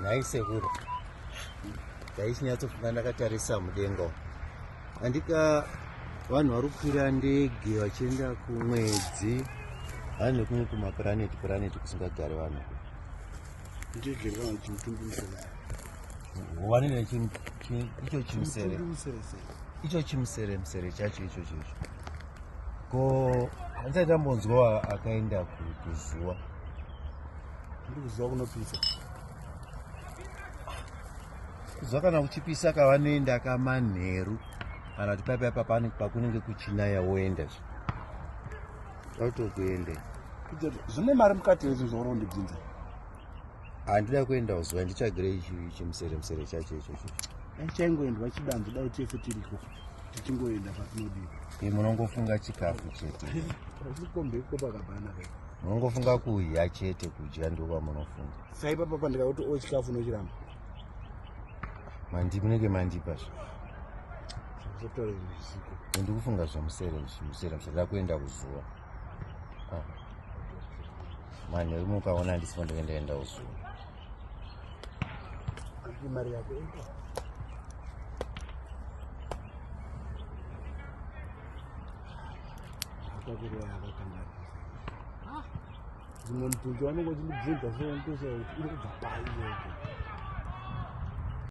nhai sekuru ndaichinyatsofunga ndakatarisa mudenga andika vanhu vari kukwira ndege vachienda kumwedzi vanhu vekumwe kumapuraneti puraneti kusingagari vanhu wanene icho chimusere icho chimusere musere chacho ichocho icho ko handisati tambonzwa akaenda kuzuva ndiri kuzuva kunopisa kuzuva kana kuchipisa kavanoenda kamanheru kana kuti paipa ipa pakunenge kuchinaya woenda zve autokuende zvine mari mukati hezvo zvaurondibvunza handida kuenda kuzuva ndichagire chimusere musere chacho ichocho chaingoendwa chidanzi dai tese tiriko tichingoenda patinodii e munongofunga chikafu chete aikombeko pakabana ka munongofunga kudya chete kudya ndo kwamunofunga saipapa pandikakuti o chikafu unochiramba mandi munenge mandipa zvo ndikufunga zvemusere musere musere ndakuenda kuzuva manheru mukaona ndisipo ndenge ndaenda usu mari yako dzimwe mutunzi wanenge uchindibvunza so ndosekuti iri kubva pai yoko